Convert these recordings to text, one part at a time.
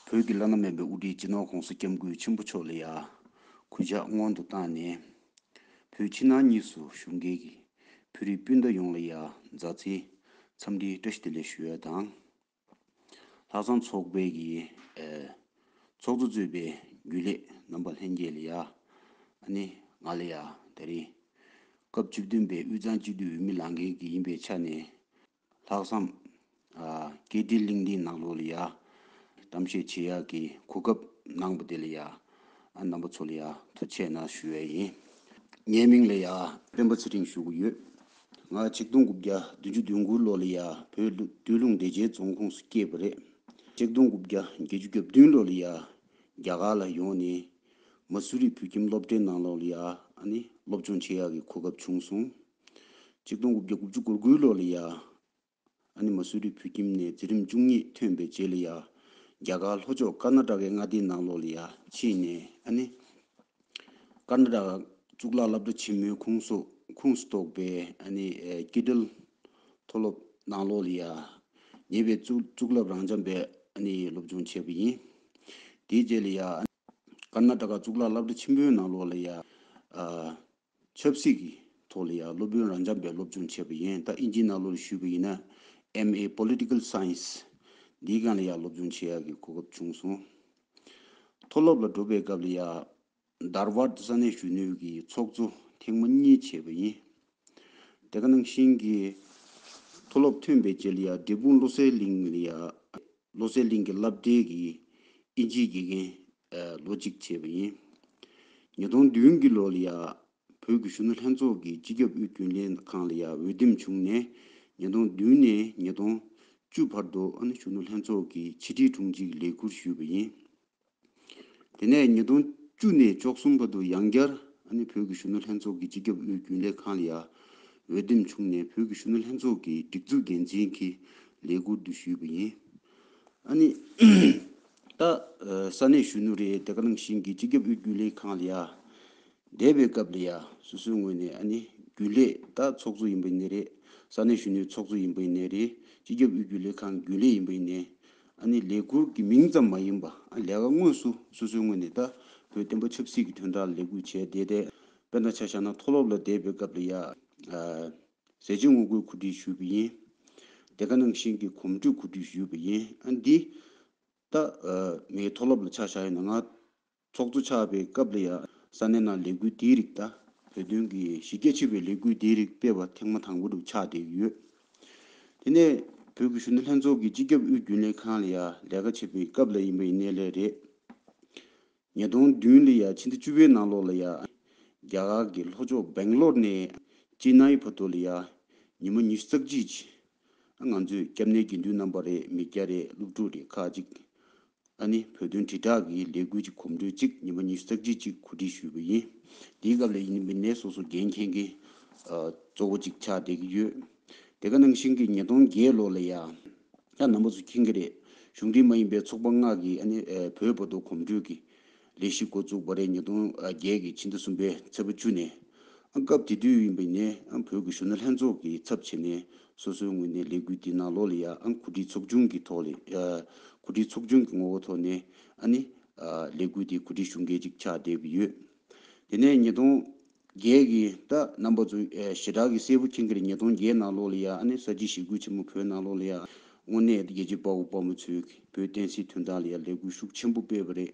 བོད་ཀྱི་བླ་ན་མེད་པའི་དབུ་ཁྲིད་སྤྱི་ནོར ྋགོང་ས ྋསྐྱབས་མགོན་ཆེན་པོ་མཆོག་ལ་ཡང་གུས་ཕྱག་སྔོན་དུ་བཏང་ནས། བོད་ཕྱི་ནང་གཉིས་སུ་བཞུགས་མཁན་གྱི་བོད་རིགས་སྤུན་ཟླ་ཡོངས་ལ་ཡང་མཛའ་བརྩེའི་འཚམས་འདྲིའི་བཀྲ་ཤིས་བདེ་ལེགས་ཞུ་ཡ་དང། ལྷག་བསམ་ཚོགས་དཔལ་གྱི་ཚོགས་གཙོ་གཙོས་པའི་རྒྱུན་ལས་རྣམ་པ་ལྷན་རྒྱས་ལ་ཡང་ནི་ང་ལ་ཡང་ད་རིང་སྐབས་བཅུ་བདུན་པའི་དབུས་གཙང་སྤྱི་འཐུས་འོས་མི་ལང་མཁན་གྱི་ཡིན་པའི་ཆ་ནས་ལྷག་བསམ། སྐད་འཕྲིན་གླིང་འདིའི་ནང་ལོགས་ལ་ཡ། གཏམ་བཤད་བྱེད་ཡག་གི་གོ་སྐབས་གནང་པ་དེ་ལ་ཡ། རྣམ་པ་ཚོ་ལ་ཡ་ཐུགས་ཆེ་ན་ཞུ་བས་ཡིན། ངའི་མིང་ལ་ཡ། སྤེན་པ་ཚེ་རིང་ཞུ་གི་ཡོད། ང་ཆིག་སྟོང་དགུ་བརྒྱ་བདུན་ཅུ་དོན་དགུ་ལོ་ལ་ཡ་བོད་སྟོད་ལུང་བདེ་ཆེན་རྫོང་ཁོངས་སུ་སྐྱེས་པ་རེད། ཆིག་སྟོང་དགུ་བརྒྱ་བརྒྱད་ཅུ་གྱ་བདུན་ལོ་ལ་ཡ་རྒྱ་གར་ལ་ཡོང་ནས། མ་སུ་རི་བོད་ཁྱིམ་སློབ་གྲྭའི་ནང་ལོགས་ལ་ཡ་ནི་སློབ་སྦྱོང་བྱེད་ཡག་གི་གོ་སྐབས་བྱུང་སོང། ཆིག་སྟོང་དགུ་བརྒྱ་དགུ་བཅུ་གོ་དགུའི་ལོ་ལ་ཡཱ་ཨ་ནི་མ་བསོད་རིགས་བུ་ཁྱིམ་ནས་འཛིན་རིམ་བཅུ་གཉིས་ཐོན་པའི་རྗེས་ལ་ཡཱ་རྒྱ་གར་ལྷོ་ཕྱོགས་ཀར་ནཱ་ཏྲ་ཀའི་མངའ་སྡེའི་ནང་ལོག་ལ་ཡཱ་ཕྱིན་ནས་ཨ་ནི། ཀར་ནཱ་ཏྲ་ཀ་གཙུག་ལག་བླ་བྲ་ཆེན་མོའི་ཁུངས་སུ་ཁུངས་སུ་གཏོགས་པའི་ཨ་ནི་ཀི་ཏིལ་མཐོ་སློབ་ནང་ལོག་ལ་ཡཱ་ཉེ་བའི་གཙུག་ལག་རང་འཇམ་པའི་ཨ་ནི་སློབ་སྦྱོང་བྱས་པ་ཡིན། དེའི་རྗེས་ལ་ཡཱ་ཨ་ཀར་ནཱ་ཏྲ་ཀ་གཙུག་ལག་བླ་བྲེ་ཆེན་པོའི་ནང་ལོགས་ལ་ཡང། ཆབ་སྲིད་ཀྱི་ཐོག་ལ་ཡང་སློབ་དཔོན་རང་འཇམ་པའི་སློབ་སྦྱོང་བྱས་པ་ཡིན། ད་ཨིན་ཇིའི་ནང་ལོགས་ལ་ཞུས་པ་ཡིན་ན། MA Political Science། འདིའི་སྒང་ལ་ཡང་སློབ་སྦྱོང་བྱེད་ཡག་གི་གོ་སྐབས་བྱུང་སོང། མཐོ་སློབ་ལ་འགྲོ་པའི་སྐབས་ལ་ཡང། Dharwad ས་གནས་གཞོན་ནུས་ཀྱི་ཚོགས་གཙོ་ཐེངས་མ་གཉིས་བྱས་པ་ཡིན། དེ་ག་ནང་བཞིན་གྱི། མཐོ་སློབ་ཐོན་པའི་རྗེས་ལ་ཡང་འབྲས་སྤུངས་བློ་གསལ་གླིང་ལ་ཡང། བློ་གསལ་གླིང་གི་བསླབ་གྲྭའི་གི་ཨིན་ཇིའི་དགེ་རྒན་ལོ་གཅིག་བྱས་པ་ཡིན། ཉིས་སྟོང་བདུན་གྱི་ལོ་ལ་ཡང་བོད་ཀྱི་གཞོན་ནུ་ལྷན་ཚོགས་ཀྱི་སྤྱི་ཁྱབ་དབུས་རྒྱུན་ལས་ཁང་ལ་ཡང་འོས་འདེམས་བྱུང་ནས་ཉིས་སྟོང་བདུན་ནས་ཉིས་སྟོང་བཅུ་བར་དུ་ཨ་ནེ་གཞོན་ནུ་ལྷན་ཚོགས་ཀྱི་ཕྱི་དྲིལ་དྲུང་ཆེའི་ལས་ཁུར་ཞུས་པ་ཡིན། དེ་ནས་ཉིས་སྟོང་བཅུ་ནས་བཅོ་གསུམ་བར་དུ་ཡང་བསྐྱར་ཨ་ནི་བོད་ཀྱི་གཞོན་ནུ་ལྷན་ཚོགས་ཀྱི་སྤྱི་ཁྱབ་དབུས་རྒྱུན་ལས་ཁང་ལ་ཡར་འོས་འདེམས་བྱུང་ནས་བོད་ཀྱི་གཞོན་ནུ་ལྷན་ཚོགས་ཀྱི་སྒྲིག་འཛུགས་འགན་འཛིན་གྱི་ལས་འཁུར་དུ་ཞུས་པ་ཡིན། ཨ་ནི། ད་ས་གནས་གཞོན་ནུ་རེད་དེ་ཀ་ནང་བཞིན་གྱི་སྤྱི་ཁྱབ་དབུས་རྒྱུན་ལས་ཁང་ལ་ཡར་བསྡད་པའི་སྐབས་ལ་ཡར་སོ་སོའི་ངོས་ནས་ཨ་ནི་རྒྱུན་ལས་ད་ཚོགས་གཙོ་ཡིན་པའི་གནས་རེད་ས་གནས་གཞོན་ནུའི་ཚོགས་གཙོ་ཡིན་པའི་གནས་རེད་སྤྱི་ཁྱབ་དབུས་རྒྱུན་ལས་ཁང་རྒྱུན་ལས་ཡིན་པའི་གནས་ཨ་ནི་ལས་འཁུར་གྱི་མིང་ཙམ་མ་ཡིན་པ་ཨ་ལས་ཀ་དངོས་སུ་སོ་སོའི་ངོས་ནས་ད་བོད་བསྟན་པ་ཆབ་སྲིད་ཀྱི་དོན་དག་ལས་འགུལ་བྱས་བསྡད་དེ་དཔེར་ན་ཆ་བཞག་ན་མཐོ་སློབ་ལ་བསྡད་པའི་སྐབས་ལ་ཡ། ཟས་བཅད་ངོ་རྒོལ་གོ་སྒྲིག་ཞུས་པ་ཡིན། དེ་ག་ནང་བཞིན་གྱི་གོམ་བགྲོད་གོ་སྒྲིག་ཞུས་པ་ཡིན་ཨ་འདི། ད། ངའི་མཐོ་སློབ་ལ་ཆ་བཞག་ཡོད་ན་ང། ཚོགས་གཙོ་ཆགས་པའི་སྐབས་ལ་ཡང། ས་གནས་ནང་ལས་འགུལ་འདིའི་རིགས་དང་བོད་དོན་གྱི་གཞི་རྒྱ་ཆེ་བའི་ལས་འགུལ་འདིའི་རིགས་སྤེལ་བ་ཐེངས་མ་དང་པོ་རུ་ཆགས་བསྡད་ཡོད། དེ་ནས་བོད་ཀྱི་གཞོན་ནུ་ལྷན་ཚོགས་ཀྱི་སྤྱི་ཁྱབ་དབུས་རྒྱུན་ལས་ཁང་ལ་ཡང་ལས་ཀ་བྱེད་པའི་སྐབས་ལ་ཡིན་པ་ཡིན་གནས་ལས་རེད། ཉིས་སྟོང་བདུན་ལོ་ཡང་ཕྱི་ཟླ་བཅུ་བའི་ནང་ལོགས་ལ་ཡང། རྒྱ་གར་གྱི་ལྷོ་ཕྱོགས་སྦེང་ལོར་ནས་ཅེ་ནཱི་བར་དུ་ལ་ཡང་ཉི་མ་ཉི་ཤུ་རྩ་གཅིག། ང་ཚོས་སྐྱབས་གནས་དགེ་འདུན་རྣམ་པ་རེད་མི་བརྒྱ་རེད་སློབ་ཕྲུག་རེད་ཁག་གཅིག་ཨ་ནི་བོད་དོན་དྲིལ་བསྒྲགས་ཀྱི་ལས་འགུལ་གྱི་གོམ་བགྲོད་གཅིག་ཉིན་པ་ཉི་ཤུ་རྩ་བཞི་གཅིག་གོ་སྒྲིག་ཞུས་པ་ཡིན། དེའི་སྐབས་ལས་ཡིན་མི་སྣའི་སོ་སོ་འགན་མཁན་གྱི་གཙོ་བོ་གཅིག་ཆགས་བསྡད་ཀྱི་ཡོད། དེ་ག་ནང་བཞིན་གྱི་ཉིས་སྟོང་བརྒྱད་ལོ་ལ་ཡང་ནང་པ་ཚོ་ཁྱིན་གྱི་རེད་གཞུང་འབྲེལ་མ་ཡིན་པའི་ཚོགས་པ་ལྔ་གིས་ཨ་ནི་བོད་བོ་དོ་གོམ་བགྲོད་ཀྱི་ལས་གཞི་འགོ་བཙུགས་པ་རེད་ཉིས་སྟོང་བརྒྱད་ཀྱི་ཕྱི་ཟླ་གསུམ་པའི་ཚེས་པ་བཅུ་ནས། སྐབས་དེ་དུས་ཡིན་པའི་ནས་བོད་ཀྱི་གཞོན་ནུ་ལྷན་ཚོགས་ཀྱི་ཚབ་བྱས་ནས་སོ་སོའི་ངོས་ནས་ལས་འགུལ་དེ་ནང་ལོག་ལ་ཡ་གུ་དྲི་ཚོགས་ཆུང་གི་ཐོག་ལས་གུ་དྲི་ཚོགས་ཆུང་གི་ངོ་བོ་ཐོག་ནས་ནི། ལས་འགུལ་དེ་གུ་དྲི་ཞུ་འགེལ་ཅིག་ཆགས་བསྡད་ཀྱི་ཡོད། དེ་ནས་ཉིས་སྟོང། རྒྱས་ཀྱི་ད་རྣམ་པ་ཚོ་ཞེ་དྲག་གི་སྲས་བུ་ཁྱིང་ཀེར་ཉིས་སྟོང་བརྒྱད་ནང་ལོགས་ལ་ཡ་ཨ་ནེ་ས་སྐྱིད་ཞི་རྒོལ་ཆེན་མོ་བོད་ནང་ལོགས་ལ་ཡ་དངོས་གནས་རྒྱལ་གཅེས་དཔའ་བོ་དཔའ་མོ་ཚོས་བོད་བསྟན་སྲིད་དོན་དག་ལ་ཡ་ལས་འགུལ་ཤུགས་ཆེན་པོ་སྤེལ་བ་རེད་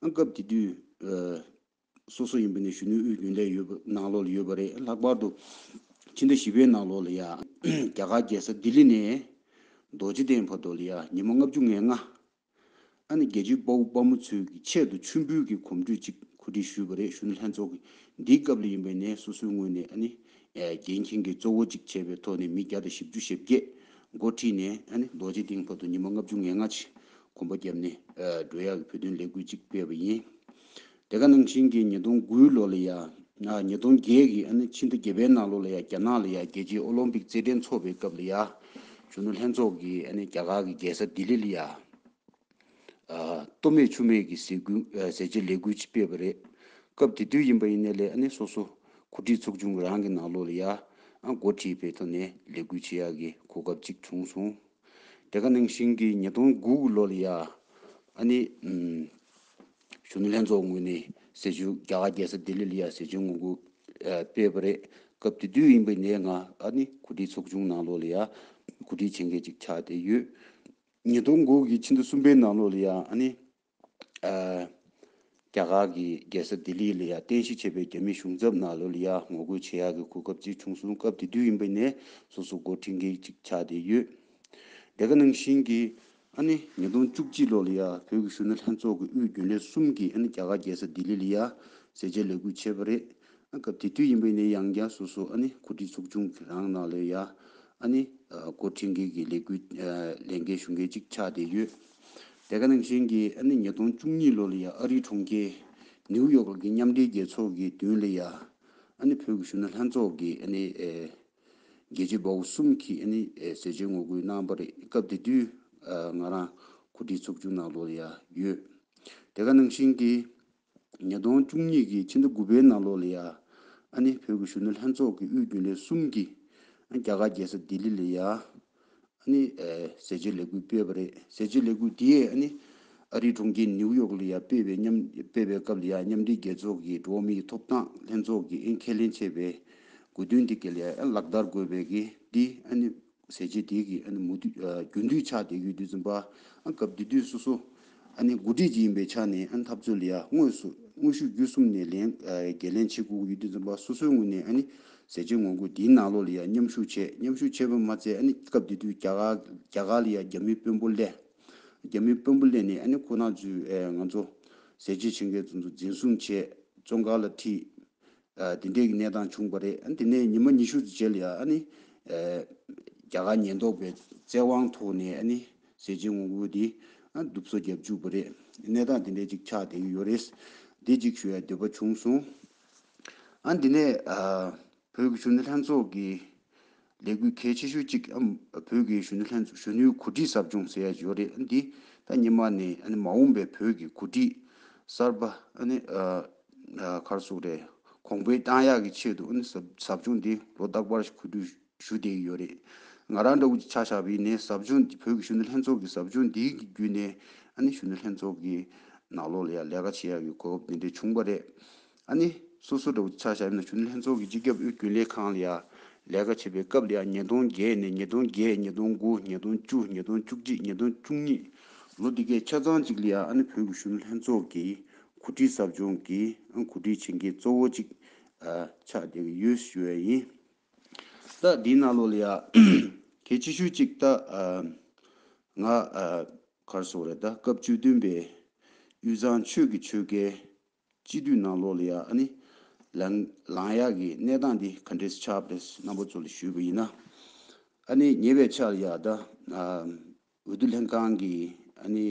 ཨང་སྐབས་དེ་དུས་སོ་སོ་ཡིན་པ་ནས་གཞོན་ནུའི་དབུས་རྒྱུན་ལས་ཡོད་པ་ནང་ལོགས་ལ་ཡོད་པ་རེད་ལྷག་པར་དུ་ཕྱི་ཟླ་བཞི་པའི་ནང་ལོགས་ལ་ཡ་རྒྱ་གར་རྒྱལ་ས་ལྡི་ལི་ནས་རྡོ་རྗེ་གདན་བར་དུ་ལ་ཡ་ཉི་མ་ལྔ་བཅུ་ང་ལྔ་ཨ་ནེ་རྒྱལ་གཅེས་དཔའ་བོ་དཔའ་མོ་ཚོའི་གི་ཆེད་དུ་མཆོད་འབུལ་གྱི་གོམ་བགྲོད་ཅིག་གོ་སྒྲིག་ཞུས་པ་རེད་ཞུ་ན་ལྷན་ཚོགས་ཀྱི་འདིའི་སྐབས་ལ་ཡིན་པས་ནས་སོ་སོའི་ངོས་ནས་ཨ་ནེ་རྒྱལ་མཁྱེན་གྱི་གཙོ་བོ་ཅིག་བྱས་པའི་ཐོག་ནས་མི་བརྒྱ་དང་བཞི་བཅུ་ཞེ་བརྒྱད་འགོ་ཁྲིད་ནས་ཨ་ནེ་རྡོ་རྗེ་གདིང་བར་དུ་ཉི་མ་ལྔ་བཅུ་ངེ་ལྔ་ཆེད་གོམ་པ་བརྒྱབ་ནས་འགྲོ་ཡག་གི་བོད་དོན་ལས་འགུལ་ཅིག་སྤེལ་བ་ཡིན། དེ་ག་ནང་བཞིན་གྱི་ཉིས་སྟོང་དགུའི་ལོ་ལ་ཡང། ཉིས་སྟོང་བརྒྱད་ཀྱི་ཨ་ནི་ཕྱི་ཟླ་བརྒྱད་པའི་ནང་ལོ་ལ་ཡང་རྒྱ་ནག་ལ་ཡང་རྒྱལ་སྤྱིའི་ཨོ་ལོམ་པིག་རྩེད་འགྲན་འཚོགས་པའི་སྐབས་ལ་ཡང། གཞོན་ནུ་ལྷན་ཚོགས་ཀྱིས་ཨ་ནི་རྒྱ་གར་གྱི་རྒྱལ་ས་ལྡི་ལི་ལ་ཡང། སྟོད་སྨད་ཆུ་སྨད་ཀྱི་ཟས་གུ་ཟས་བཅད་ལས་འགུལ་ཅིག་སྤེལ་བ་རེད། སྐབས་དེ་དུས་ཡིན་པ་ཡིན་ནའི་ལས་ཨ་ནི་སོ་སོ་གོ་སྒྲིག་ཚོགས་ཆུང་གི་རང་གི་ནང་ལོ་ལ་ཡང། འགོ་ཁྲིད་པའི་ཐོག་ནས་ལས་འགུལ་བྱེད་ཡག་གི་གོ་སྐབས་ཅིག་བྱུང་སོང། དེ་ག་ནང་བཞིན་གྱི་ཉིས་སྟོང་དགུ་གི་ལོ་ལ་ཡང། ཨ་ནི། གཞོན་ནུ་ལྷན་ཚོགས་ངོས་ནས་ཟེར་རྒྱུ་རྒྱ་གར་རྒྱལ་ས་ལྡི་ལི་ལ་ཡང་ཟེར་རྒྱུ་ངོ་གུ་སྤེལ་བ་རེད། སྐབས་དེ་དུས་ཡིན་པའི་ནས་ང་ཨ་ནི་གོ་སྒྲིག་ཚོགས་ཆུང་ནང་ལོགས་ལ་ཡང་གོ་སྒྲིག་བྱེད་མཁན་ཅིག་ཆགས་བསྡད་ཡོད། ཉིས་སྟོང་དགུ་གི་ཕྱི་ཟླ་གསུམ་པའི་ནང་ལོགས་ལ་ཡང་ཨ་ནི་རྒྱ་གར་གི་རྒྱལ་ས་ལྡི་ལི་ལ་ཡང་རྟེན་གཞི་བྱས་པའི་རྒྱ་མི་གཞུང་ཚབ་ནང་ལོགས་ལ་ཡང་ངོ་རྒོལ་བྱེད་ཡག་གི་གོ་སྐབས་ཅིག་བྱུང་སོང་སྐབས་དེ་དུས་ཡིན་པའི་ནས་སོ་སོ་མགོ་འཁྲིད་མཁན་ཅིག་ཆགས་བསྡད་ཡོད། དེ་ག་ནང་བཞིན་གྱི། ཨ་ནི་ཉིས་སྟོང་བཅུ་གཅིག་ལོ་ལ་ཡ་བོད་ཀྱི་གཞོན་ནུ་ལྷན་ཚོགས་ཀྱི་དབུས་རྒྱུན་ལས་གསུམ་གྱིས་ཨ་ནི་རྒྱ་གར་རྒྱལ་ས་ལྡི་ལི་ལ་ཡ་ཟེར་བཅད་ལས་འགུལ་བྱས་པ་རེད། ཨ་སྐབས་དེ་དུས་ཡིན་པའི་ནས་ཡང་རྒྱ་སོ་སོ་ཨ་ནི་གོ་སྒྲིག་ཚོགས་ཆུང་གི་རང་ནང་ལ་ཡ་ཨ་ནི་སྐོར་ཁྲིད་མཁན་གྱི་ལས་འགུལ་ལས་འགལ་ཞུ་མཁན་གཅིག་ཆགས་བསྡད་ཡོད། དེ་ག་ནང་བཞིན་གྱི་ཨ་ནི་ཉིས་སྟོང་བཅུ་གཉིས་ལོ་ལ་ཡ་ཨ་རིའི་གྲོང་ཁྱེར་ནིའུ་ཡོག་ལ་གི་མཉམ་འབྲེལ་རྒྱལ་ཚོགས་ཀྱི་མདུན་ལ་ཡ་ཨ་ནི་བོད་ཀྱི་གཞོན་ནུ་ལྷན་ཚོགས་ཀྱིས་ཨ་ནི། རྒྱལ་གཅེས་དཔའ་བོ་གསུམ་གྱིས་ནི་མཛད་རྗེས་ངོ་རྒོལ་གནང་བ་རེད་སྐབས་དེ་དུས་ང་རང་གོ་སྒྲིག་ཚོགས་ཆུང་ནང་ལོགས་ལ་ཡང་ཡོད་དེ་ག་ནང་བཞིན་གྱི་ཉིས་སྟོང་བཅུ་གཉིས་ཀྱི་ཕྱི་ཟླ་དགུ་པའི་ནང་ལོགས་ལ་ཡང་ནི་བོད་ཀྱི་གཞོན་ནུ་ལྷན་ཚོགས་ཀྱི་དབུས་རྒྱུན་ལས་གསུམ་གྱིས་རྒྱ་གར་རྒྱལ་ས་ལྡི་ལི་ལ་ཡང་ནི། ཟས་སྤྱོད་ལས་འགུལ་སྤེལ་བ་རེད། ཟས་སྤྱོད་ལས་འགུལ་དེ་ནི། ཨ་རིའི་གྲོང་ཁྱེར་ནིའུ་ཡོག་ལ་ཡང་སྤེལ་བའི་མཉམ་སྤེལ་བའི་སྐབས་ལ་ཡང་མཉམ་འབྲེལ་རྒྱལ་ཚོགས་ཀྱི་འགྲོ་བ་མིའི་ཐོབ་ཐང་ལྷན་ཚོགས་ཀྱིས་ཨེ་ཁས་ལེན་བྱས་པའི་དགོས་འདུན་དེ་གལ་ཡང་ལག་བསྟར་དགོས་པའི་གི་དེ་ནི། ཟས་སྤྱོད་དེ་གི་ཨ་ནི་མུ་མཐུད་རྒྱུན་མཐུད་ཆགས་བསྡད་ཡོད་དུས་འཛིན་པ་སྐབས་དེ་དུས་སོ་སོ། ཨ་ནི་མགོ་ཁྲིད་ཅིག་ཡིན་པའི་ཆ་ནས་ཨ་ནི་འཐབ་རྩོད་ལ་ཡར་དངོས་སུ་དངོས་ཤུགས་བརྒྱུད་གསུམ་ནས་ལན་བརྒལ་ལན་བྱེད་ཁུག་ཡུལ་དུས་འཛོམས་པ་སོ་སོའི་ངོས་ནས་ཨ་ནི་ཟས་སྤྱོད་ངོ་རྒོལ་འདིའི་ནང་ལོགས་ལ་ཡར་མཉམ་ཞུགས་བྱས་མཉམ་ཞུགས་བྱས་པར་མ་ཚད་ཨ་ནི་སྐབས་དེ་དུས་རྒྱ་གར་ལ་ཡར་རྒྱ་མིའི་དཔོན་པོ་སླེབས། རྒྱ་མིའི་དཔོན་པོ་སླེབས་ནས་ཨ་ནི་ཁོ་ནག་ཚོས་ང་ཚོ་ཟས་བཅད་བྱེད་མཁན་ཚོ་འཛིན་བཟུང་བྱས་བཙོན་ཁང་ལ་ཁྲིད། འདི་འདྲའི་གནས་སྟངས་བྱུང་བ་རེད། དེ་ནས་ཉི་མ་ཉི་ཤུ་རྗེས་ལ་ནི། རྒྱ་གར་ཉེན་རྟོག་པའི་བཙན་དབང་ཐོག་ནས་ནི་ཟས་སྦྱིན་དབང་པོ་དེ་སྡུག་བཟོ་བརྒྱབ་བཅུག་པ་རེད། གནས་སྟངས་དེ་འདྲའི་ཅིག་ཆགས་བསྡད་ཀྱི་ཡོད་རེད། འདི་ཅིག་ཞུ་བའི་འདོད་པ་བྱུང་སོང། འདི་ནས་བོད་ཀྱི་གཞོན་ནུ་ལྷན་ཚོགས་ཀྱི་ལས་འགུལ་གལ་ཆེ་ཤོས་གཅིག་བོད་ཀྱི་གཞོན་ནུ་ལྷན་ཚོགས་གཞོན་ནུའི་གོ་སྒྲིག་གསབ་སྦྱོང་ཟེར་ཡག་བྱས་པ་རེད་འདི་ལྟ་ཉི་མ་ནས་མ་འོངས་པའི་བོད་ཀྱི་གོ་སྒྲིག་གསར་པ་གར་སོགས་རེད་གོང་འཕེལ་གཏང་ཡག་གི་ཆེད་དུ་གསབ་སྦྱོང་འདི་ལོ་རྟག་པར་གོ་སྒྲིག་ཞུ་བསྡད་ཀྱི་ཡོད་རེད་ང་རང་འདྲ་བོ་ཆ་བཞག་པའི་ནས་གསབ་སྦྱོང་འདི་བོད་ཀྱི་གཞོན་ནུ་ལྷན་ཚོགས་ཀྱི་གསབ་སྦྱོང་འདི་གི་བརྒྱུད་ནས་གཞོན་ནུ་ལྷན་ཚོགས་ཀྱི་ནང་ལོགས་ལ་ཡང་ལས་ཀ་བྱེད་ཡག་གི་གོ་སྐབས་འདི་འདྲ་བྱུང་པ་རེད། ཨ་ནི། སོ་སོ་འདྲ་བོ་ཆགས་ཤག་ཡིན་ན་ཞུ་ནི་ལྷན་ཚོགས་ཀྱི་སྤྱི་ཁྱབ་ཨུའི་རྒྱུན་ལས་ཁང་ལ་ཡར་ལས་ཀ་བྱེད་པའི་སྐབས་ལ་ཡང་ཉིས་སྟོང་བརྒྱད་ནས་ཉིས་སྟོང་བརྒྱད་ཉིས་སྟོང་དགུ་ཉིས་སྟོང་བཅུ་ཉིས་སྟོང་བཅུ་གཅིག་ཉིས་སྟོང་བཅུ་གཉིས་ལོ་འདི་གའི་ཆ་ཚང་གཅིག་ལ་ཡར་ཨ་ནི་བོད་ཀྱི་ཞུ་ནི་ལྷན་ཚོགས་ཀྱི་གོ་སྒྲིག་ཟབ་སྦྱོང་གི་ཨང་གོ་སྒྲིག་བྱེད་མཁན་གཙོ་བོ་གཅིག་ཆགས་བསྡད་ཀྱི་ཡོད་ཞུ་བ་ཡིན། ད་འདིའི་ནང་ལོ་ལ་ཡར་གལ་ཆེ་ཤོས་གཅིག་ད་ང་གར་སོང་རེད་ད་སྐབས་བཅུ་བདུན་པའི་དབུས་གཙང་ཆོས་ཀྱི་ཆོལ་ཁའི་སྤྱི་འཐུས་ནང་ལོག་ལ་ཡ་ཨ་ནི། ལངས་ཡག་གི་གནས་སྟངས་འདི་ག་འདྲས་སུ་ཆགས་པ་རེད་སྣ་བོ་ཚོ་ལ་ཞུས་པ་ཡིན་ན། ཨ་ནི་ཉེ་བའི་ཆར་ཡ་ད་འོས་བསྡུ་ལྷན་ཁང་གི་ཨ་ནི་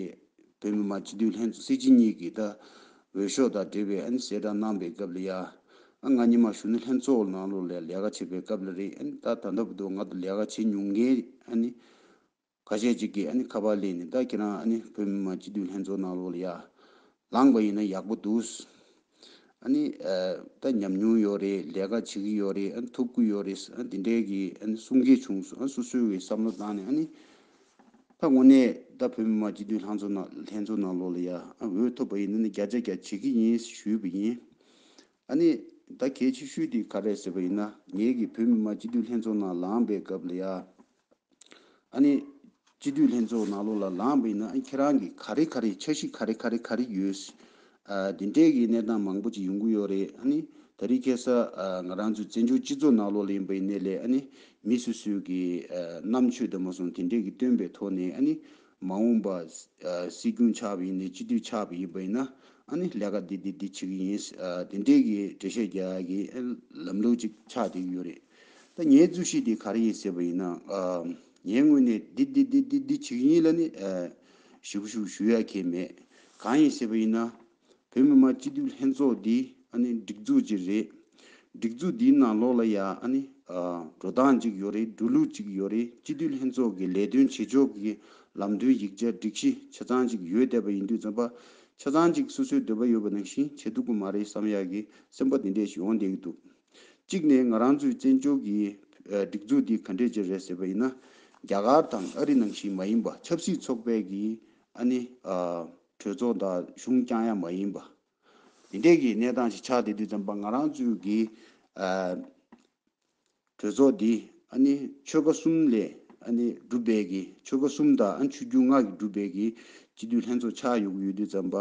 བོད་མི་མང་སྤྱི་འཐུས་ལྷན་ཚོགས་སྲིད་སྤྱི་གཉིས་ཀྱི་ད་འོས་ཤོག་དང་འབྲེལ་བའི་ཨ་ནི་གསལ་བསྒྲགས་གནང་པའི་སྐབས་ལ་ཡ་ཨ་ང་ཉི་མ་ཞུ་ནི་ལྷན་ཚོགས་ནང་ལོག་ལ་ལས་ཀ་བྱེད་པའི་སྐབས་ལ་རེད་ཨ་ནི་ད་ད་ལྟ་བུ་དུ་ང་ད་ལས་ཀ་བྱེད་མྱོང་མཁན་ཨ་ནི་ཁ་ཤས་ཅིག་གིས་ཨ་ནི་ཁ་པར་ལས་ནི་ད་ཁྱེད་རང་ཨ་ནི་བོད་མི་མང་སྤྱི་འཐུས་ལྷན་ཚོགས་ནང་ལོགས་ལ་ཡར་ལངས་པ་ཡིན་ན་ཡག་པོ་འདུག། ཨ་ནི་ད་ཉམས་མྱོང་ཡོད་རེད་ལས་ཀ་བྱེད་ཀྱི་ཡོད་རེད་ཨ་ནི་ཐུབ་ཀྱི་ཡོད་རེད་ཨ་ནི་དེ་འདྲས་ཀྱི་ཨ་ནི་གསུང་སྐད་བྱུང་སོང་ཨ་ནི་སོ་སོའི་བའི་བསམ་བློ་བཏང་ནས་ཨ་ནི་ད་དངོས་གནས་ད་བོད་མི་མང་སྤྱི་འཐུས་ལྷན་ཚོགས་ནང་ལྷན་ཚོགས་ནང་ལོགས་ལ་ཡར་འོས་ཐོབ་པ་ཡིན་ན་ནི་བརྒྱ་ཆ་བརྒྱ་བྱེད་ཀྱི་ཡིན་ཞུས་པ་ཡིན། ཨ་ནི་ད་གལ་ཆེ་ཤོས་དེ་ག་རེད་ཟེར་བ་ཡིན་ན་ངེད་ཀྱི་བོད་མི་མང་སྤྱི་འཐུས་ལྷན་ཚོགས་ནང་ལངས་པའི་སྐབས་ལ་ཡར་ཨ་ནི། སྤྱི་འཐུས་ལྷན་ཚོགས་ནང་ལོགས་ལ་ལངས་པ་ཡིན་ན་ཁྱེད་རང་གིས་ག་རེ་ག་རེ་འཆར་གཞི་ག་རེ་ག་རེ་ག་རེ་ཡོད། དེ་འདྲའི་གི་གནས་སྟངས་མང་པོ་ཅིག་ཡོང་གི་ཡོད་རེད་ཨ་ནི། ད་རིས་ཁེ་ས་ང་རང་ཚོའི་བཙན་བྱོལ་སྤྱི་ཚོགས་ནང་ལོགས་ལ་ཡིན་པ་ཡིན་ནའི་ལས་ཨ་ནི། མི་སུ་སུའི་གི་རྣམ་ཆོས་དུ་མ་སོང་དེ་འདྲའི་གི་སྟོན་པའི་ཐོག་ནས་ཨ་ནི། མ་འོངས་པ་སྲིད་སྐྱོང་ཆགས་པ་ཡིན་ནའི་སྤྱི་འཐུས་ཆགས་པ་ཡིན་པ་ཡིན་ན་ཨ་ནི་ལས་ཀ་འདི་འདི་འདི་བྱེད་གི་ཡིན། དེ་འདྲའི་གི་འབྲེལ་བཤད་རྒྱག་གི་ལམ་ལུགས་ཅིག་ཆགས་བསྡད་ཀྱི་ཡོད་རེད། ད་ངའི་རྫུན་བཤད་དེ་ག་རེ་ཡིན་ཟེར་བ་ཡིན་ན། ངས་དངོས་གནས་འདི་འདི་འདི་འདི་འདི་བྱེད་ཀྱི་ཡིན་ལ་ནི། ཞུ་གི་ཞུ་གི་ཞུ་ཡ་ཁྱེད་མེད། གང་ཡིན་ཟེར་བ་ཡིན་ན། བོད་མི་མང་སྤྱི་འཐུས་ལྷན་ཚོགས་འདི་ཨ་ནི་སྒྲིག་འཛུགས་ཅིག་རེད། སྒྲིག་འཛུགས་འདིའི་ནང་ལོགས་ལ་ཡ་ཨ་ནི། འགྲོ་སྟངས་ཅིག་ཡོད་རེད་འགྲོ་ལུགས་ཅིག་ཡོད་རེད་སྤྱི་འཐུས་ལྷན་ཚོགས་ཀྱི་ལས་དོན་བྱེད་ཕྱོགས་ཀྱི་ལམ་སྟོན་ཡིག་ཆ་སྒྲིག་གཞི་ཆ་ཚང་ཅིག་ཡོད་བསྡད་པ་ཡིན་དུས་རྩོམ་པ་ཆ་ཚང་ཅིག་སོ་སོའི་འདོད་པ་ཡོད་པ་ནང་བཞིན་བྱེད་ཐུབ་ཀྱི་མ་རེད་བསམ་ཡག་གི་སེམས་པ་དེ་འདྲས་ཤིག་ཡོང་བསྡད་ཀྱི་འདུག། གཅིག་ནས་ང་རང་ཚོའི་བཙན་བྱོལ་གྱི་སྒྲིག་འཛུགས་འདི་ག་འདྲས་ཅན་རེད་ཟེར་བ་ཡིན་ན། རྒྱ་གར་དང་ཨ་རི་ནང་བཞིན་མ་ཡིན་པ་ཆབ་སྲིད་ཚོགས་པའི་གི་ཨ་ནི། གྲོས་ཚོགས་དང་གཞུང་རྐྱང་ཡང་མ་ཡིན་པ། དེ་འདྲས་གི་གནས་སྟངས་ཤིག་ཆགས་བསྡད་དུས་ཙམ་པ་ང་རང་ཚོའི་གི་གྲོས་ཚོགས་འདི་ཨ་ནི་ཆོལ་ཁ་གསུམ་ལས་ཨ་ནི་གྲུབ་པའི་གི་ཆོལ་ཁ་གསུམ་དང་ཨ་ཆུ་རྒྱུས་མངའ་གི་གྲུབ་པའི་གི་སྤྱི་འཐུས་ལྷན་ཚོགས་ཆགས་ཡོད་གི་ཡོད་དུས་ཙམ་པ།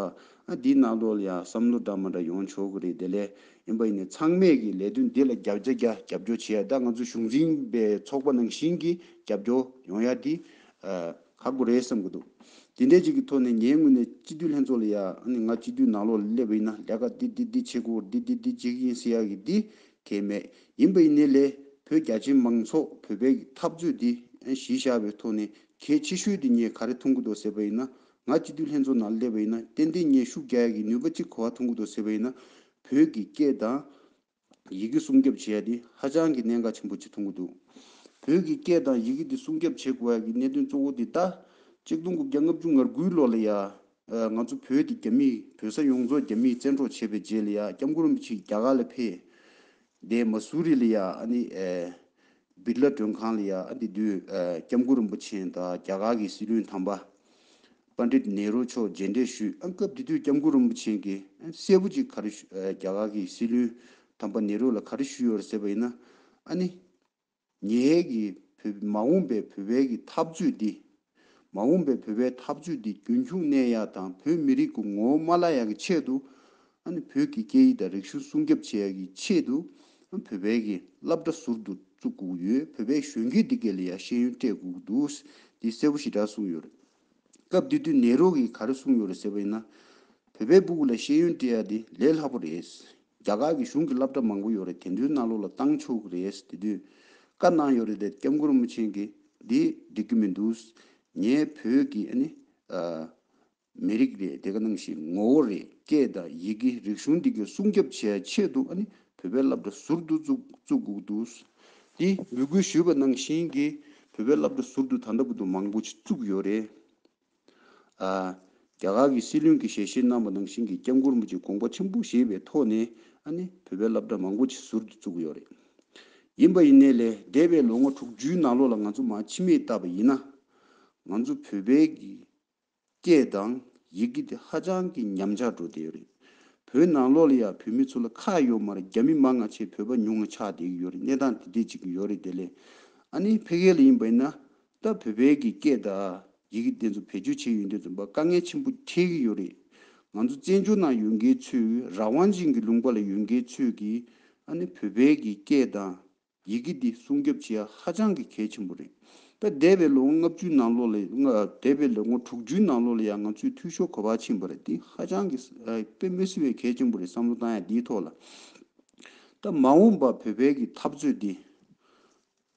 ཨ་འདི་ནག་རྡོལ་ཡ་བསམ་བློ་འདྲ་མ་འདྲ་ཡོང་ཆོག་གི་རེད་དེ་ལས་ཡིན་པ་ཡིན་ནས་ཚང་མས་ཀྱི་ལས་དོན་འདི་ལ་རྒྱབ་རྒྱ་རྒྱ་རྒྱབ་སྐྱོར་བྱེད་ཡ་ད་ང་ཚོ་གཞུང་འཛིན་པའི་ཚོགས་པ་ནང་བཞིན་གྱི་རྒྱབ་སྐྱོར་ཡོང་ཡ་དེ་ཁག་པོ་རེད་བསམ་གྱི་འདུག་དེ་འདྲས་ཅིག་གི་ཐོག་ནས་ངའི་ངོས་ནས་སྤྱི་འཐུས་ལྷན་ཚོགས་ལ་ཡ་ནི་ང་སྤྱི་འཐུས་ནག་ལོག་ལ་སླེབས་པ་ཡིན་ན་ལས་ཀ་འདི་འདི་འདི་བྱེད་དགོས་འདི་འདི་འདི་བྱེད་ཀྱི་ཡིན་ཟེར་ཡ་གི་དེ་གལ་མེད་ཡིན་པ་ཡིན་ནས་ལས་བོད་རྒྱ་ཆེ་མང་ཚོགས་བོད་པའི་འཐབ་རྩོད་འདི་གཞི་བཞག་པའི་ཐོག་ནས་གལ་ཆེ་ཤོས་དེ་ངས་ག་རེ་མཐོང་གི་འདུག་ཟེར་པ་ཡིན་ན་ང་སྤྱི་འཐུས་ལྷན་ཚོགས་ནང་སླེབས་པ་ཡིན་ན་ཏན་ཏན་ངས་ཤུགས་རྒྱག་ཡ་གི་ནུས་པ་གཅིག་གོ་བ་ཐོན་གི་འདུག་ཟེར་བ་ཡིན་ན་བོད་ཀྱི་སྐད་དང། ཡི་གེ་སྲུང་སྐྱོབ་བྱེད་ཡ་དེ་ཧ་ཅང་གི་གནད་འགག་ཆེན་པོ་གཅིག་ཐོན་གི་འདུག་བོད་ཀྱི་སྐད་དང་ཡི་གེ་དེ་སྲུང་སྐྱོབ་བྱེད་དགོས་ཡ་གི་གནད་དོན་གཙོ་བོ་དེ་ལྟ། གཅིག་སྟོང་དགུ་བརྒྱ་ལྔ་བཅུ་ང་དགུའི་ལོ་ལ་ཡ། ང་ཚོ་བོད་དེ་རྒྱ་མིས་བོད་ས་ཡོངས་རྫོགས་རྒྱ་མིས་བཙན་འཕྲོག་བྱས་པའི་རྗེས་ལ་ཡ་སྐྱབས་མགོན་རིན་པོ་ཆེ་རྒྱ་གར་ལ་ཕེབས། དེ་མ་སུ་རི་ལ་ཡ་ཨ་ནི། སྦིར་ལ་མགྲོན་ཁང་ལ་ཡང་ཨ་འདི་དུས་སྐྱབས་མགོན་རིན་པོ་ཆེན་དང་རྒྱ་གར་གྱི་སྲིད་བློན་དམ་པ Pandit Nehru མཆོག་མཇལ་འཕྲད་ཞུས་ཨ་སྐབས་དེ་དུས་སྐྱབས་མགོན་རིན་པོ་ཆེན་གྱིས་གསལ་པོ་ཅིག་ག་རེ་རྒྱ་གར་གྱི་སྲིད་བློན་དམ་པ Nehru ལ་ག་རེ་ཞུས་ཡོད་རེད་ཟེར་བ་ཡིན་ན་ཨ་ནི། ཉེ་ཡལ་གྱི་བོད་མ་འོངས་པའི་བོད་བལ་གྱི་འཐབ་རྩོད་འདི་མ་འོངས་པའི་བོད་པའི་འཐབ་རྩོད་འདི་རྒྱུན་འཁྱུག་གནས་ཡག་དང་བོད་མི་རིགས་ཀུ་ངོ་མ་བླ་ཡག་གི་ཆེད་དུ། བོད་ཀྱི་སྐད་ཡིག་དང་རིག་གཞུང་སྲུང་སྐྱབ་བྱེད་ཡག་གི་ཆེད་དུ། བོད་པའི་གི་རླབས་སྒྲ་ཟུར་དུ་བཙུགས་སྒུག་ཡོད་བོད་པའི་གཞོན་སྐྱེས་འདི་གས་ལ་ཡག་ཤེས་ཡོན་སྤྲད་སྒུག་འདུག་འདི་གསལ་པོ་ཞེ་དྲག་གསུངས་ཡོད་རེད། སྐབས་དེ་དུས་ནེ་རོ་གིས་ག་རེ་གསུངས་ཡོད་རེད་ཟེར་བ་ཡིན་ན། བོད་པའི་སྦུ་གུ་ལ་ཤེས་ཡོན་སྤྲད་ཡག་འདི་ལས་ལྷག་པོ་རེད། རྒྱ་གར་གྱི་གཞུང་གི་བསླབ་གྲྭ་མང་པོ་ཡོད་རེད་དེ་འདྲུའི་གནའ་ལུགས་ལ་བཏང་ཆོག་གི་རེད་དེ་དུས་བཀའ་གནང་ཡོད་རེད་དེ་སྐྱབས་མགོན་རིན་པོ་ཆེན་གྱི་འདི་འགྲིག་གི་མི་འདུག་ངའི་བོད་ཀྱི་ཨ་ནི། མི་རིགས་རེད་དེ་ག་ནང་ཞིག་ངོ་བོ་རེད་སྐད་དང་ཡི་གེ་རིག་གཞུང་འདི་ག་སྲུང་སྐྱབས་བྱས་ཆེད་དུ་ཨ་ནི་བོད་པའི་བསླབ་གྲྭ་ཟུར་དུ་བཙུགས་དགོས་འདུག་དེ་འབོད་སྐུལ་ཞུས་པ་ནང་བཞིན་གྱི་བོད་པའི་བསླབ་གྲྭ་ཟུར་དུ་ད་ལྟ་བུ་དུ་མང་པོ་བཙུགས་ཡོད་རེད། རྒྱ་གར་གྱི་སྲིད་བློན་གྱི་ཞལ་བཞེས་གནང་བ་ནང་བཞིན་གྱི་སྐྱབས་མགོན་མོ་ཆེའི་དགོངས་པ་ཆེན་པོ་བཞེས་པའི་ཐོག་ནས་ནི་བོད་པའི་སླབ་གྲྭ་མང་པོ་ཆེ་ཟུར་དུ་བཙུགས་ཡོད་རེད། ཡིན་པ་ཡིན་ནའི་ལས་འདས་པའི་ལོ་ངོ་དྲུག་ཅུའི་ནང་ལོགས་ལ་ང་ཚོ་མ་འཆི་མེད་བཏབ་པ་ཡིན་ན། ང་ཚོ་བོད་པའི་སྐད་དང་ཡི་གེ་དེ་ཧ་ཅང་གི་ཉམས་ཆག་འགྲོ་བསྡད་ཡོད་རེད། བོད་ནང་ལོགས་ལ་ཡང་བོད་མི་ཚོ་ལ་ཁག་ཡོད་མ་རེད་རྒྱ་མི་མང་ང་ཆེ་བོད་པ་ཉུང་ང་ཆགས་བསྡད་ཀྱི་ཡོད་རེད་གནས་སྟངས་དེ་འད་ཅིག་ཡོད་རེད་དེ་ལས་ནི་ཕེ་གྷལ་ལ་ཡིན་པ་ཡིན་ན་ལྟ་བུ་བལ་གྱི་སྐད་དང་ཡི་གེ་དེ་ཚོ་བེད་སྤྱོད་བྱེད་ཡོད་འདོད་ཙམ་པ་དཀའ་ངལ་ཆེན་པོ་འཕྲད་ཀྱི་ཡོད་རེད། ང་ཚོ་བཙན་བྱོལ་ནང་ཡོད་མཁན་ཚོས་རང་དབང་ཅན་གྱི་ལུང་པ་ལ་ཡོད་མཁན་ཚོས་ཀྱིས་ཨ་ནི་བུ་བལ་གྱི་སྐད་དང་ཡི་གེ་འདི་སྲུང་སྐྱོབ་བྱེད་ཡ་ཧ་ཅང་གི་གལ་ཆེན་པོ་རེད། ད་འདས་པའི་ལོ་ངོ་ལྔ་བཅུའི་ནང་ལོ་ལ་ཡང་འདས་པའི་ལོ་ངོ་དྲུག་ཅུའི་ནང་ལོ་ལ་ཡང་ང་ཚོས་འཐུས་ཤོར་གོ་བ་ཕྱིན་པ་རེད་འདི་ཧ་ཅང་གི་དཔེ་མི་སྲིད་པའི་གལ་ཆེན་པོ་རེད་བསམ་བློ་བཏང་ཡ་འདིའི་ཐོག་ལ། ད་མ་འོངས་པ་བུ་བལ་གྱི་འཐབ་རྩོད་འདི།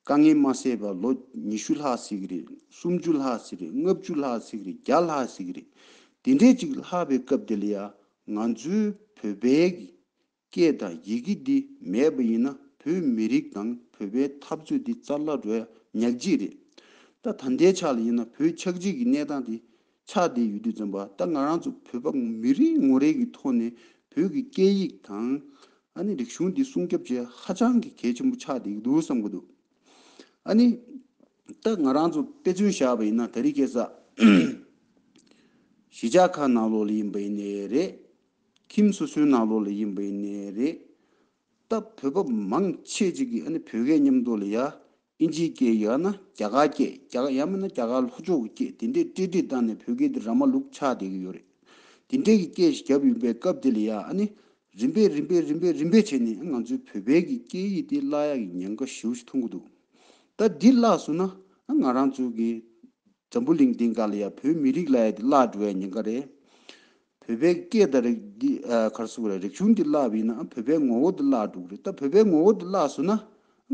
དཀའ་ངལ་མ་སེལ་བར་ལོ་ཉི་ཤུ་ལྷག་ཟིག་གི་རེད་སུམ་ཅུ་ལྷག་ཟིག་རེད་ལྔ་བཅུ་ལྷག་ཟིག་གི་རེད་བརྒྱ་ལྷག་ཟིག་གི་རེད་དེ་འདྲས་ཅིག་ལྷག་པའི་སྐབས་དེ་ལ་ཡ་ང་ཚོའི་བོད་པའི་གི་སྐད་དང་ཡི་གེ་འདི་མེད་པ་ཡིན་ན་བོད་མི་རིགས་དང་བོད་པའི་འཐབ་རྩོད་འདི་རྩ་བརླག་འགྲོ་ཡ་ཉག་གཅིག་རེད་ད་ད་ལྟའི་ཆ་ལ་ཡིན་ན་བོད་ཆགས་འཇིག་གི་གནས་སྟངས་དེ་ཕྱག་དེའི་ཡུལ་དུས་འཛོམས་པ་ད་ང་རང་ཚོ་བོད་པ་མི་རེ་ངོ་རེ་གི་ཐོག་ནས་བོད་ཀྱི་སྐད་ཡིག་དང། ཨ་ནི་རིག་གཞུང་དེ་སྲུང་སྐྱོབ་བྱེད་ཧ་ཅང་གི་གལ་ཆེན་པོ་ཆགས་བསྡད་ཀྱི་འདུག་བསམ་གྱི་འདུག་ཨ་ནི། ད་ང་རང་ཚོ་དཔེ་མཚོན་བཞག་པ་ཡིན་ན་ད་རི་སྐད་ས། གཞིས་ཆགས་ཁག་ནང་ལོགས་ལ་ཡིན་པ་ཡིན་ནའི་རེད། ཁྱིམ་སོ་སོའི་ནང་ལོགས་ལ་ཡིན་པ་ཡིན་ནའི་རེད། ད་བོད་པ་མང་ཆེས་ཅིག་གིས་ནི་བོད་སྐད་མཉམ་དུ་ལ་ཡ། ཨིན་ཇིའི་སྐད་ཡ་ན་རྒྱ་གར་སྐད་རྒྱ་གར་ཡ་མིན་ན་རྒྱ་གར་ལྷོ་ཕྱོགས་ཀྱི་སྐད་དེ་འདྲས་སྤྲེལ་སྤྲེལ་བཏགས་ནས་བོད་སྐད་དེ་ར་མ་ལུག་ཆགས་བསྡད་ཀྱི་ཡོད་རེད། དེ་འདྲས་ཀྱི་སྐད་ཞིག་བརྒྱབ་ཡོང་པའི་སྐབས་དེ་ལ་ཡ་ནི་རིམ་པས་རིམ་པས་རིམ་པས་རིམ་པས་བྱས་ནས་ང་ཚོའི་བོད་པའི་གི་སྐད་ཡིག་དེ་བརླག་ཡ་གི་ཉེན་ཁ་ཞེའུ་ཞིག་མཐོང་གི་འདུག་ད་འདི་བརླག་བཟོ་ན་ང་རང་ཚོ་གི་འཛམ་བུ་གླིང་འདི་འགའ་ལ་ཡ་བོད་མི་རིགས་ལ་ཡ་དེ་བརླག་འགྲོ་ཡ་ཉེན་ཁ་རེད། བོད་པའི་སྐད་དང་རིགས་འདི་གར་སོང་རེད་རིག་གཞུང་འདི་བརླག་བས་ན་བོད་པའི་ངོ་བོ་འདི་བརླག་འགྲོ་གི་རེད་ད་བོད་པའི་ངོ་བོ་འདི་བརླག་སོང་ན་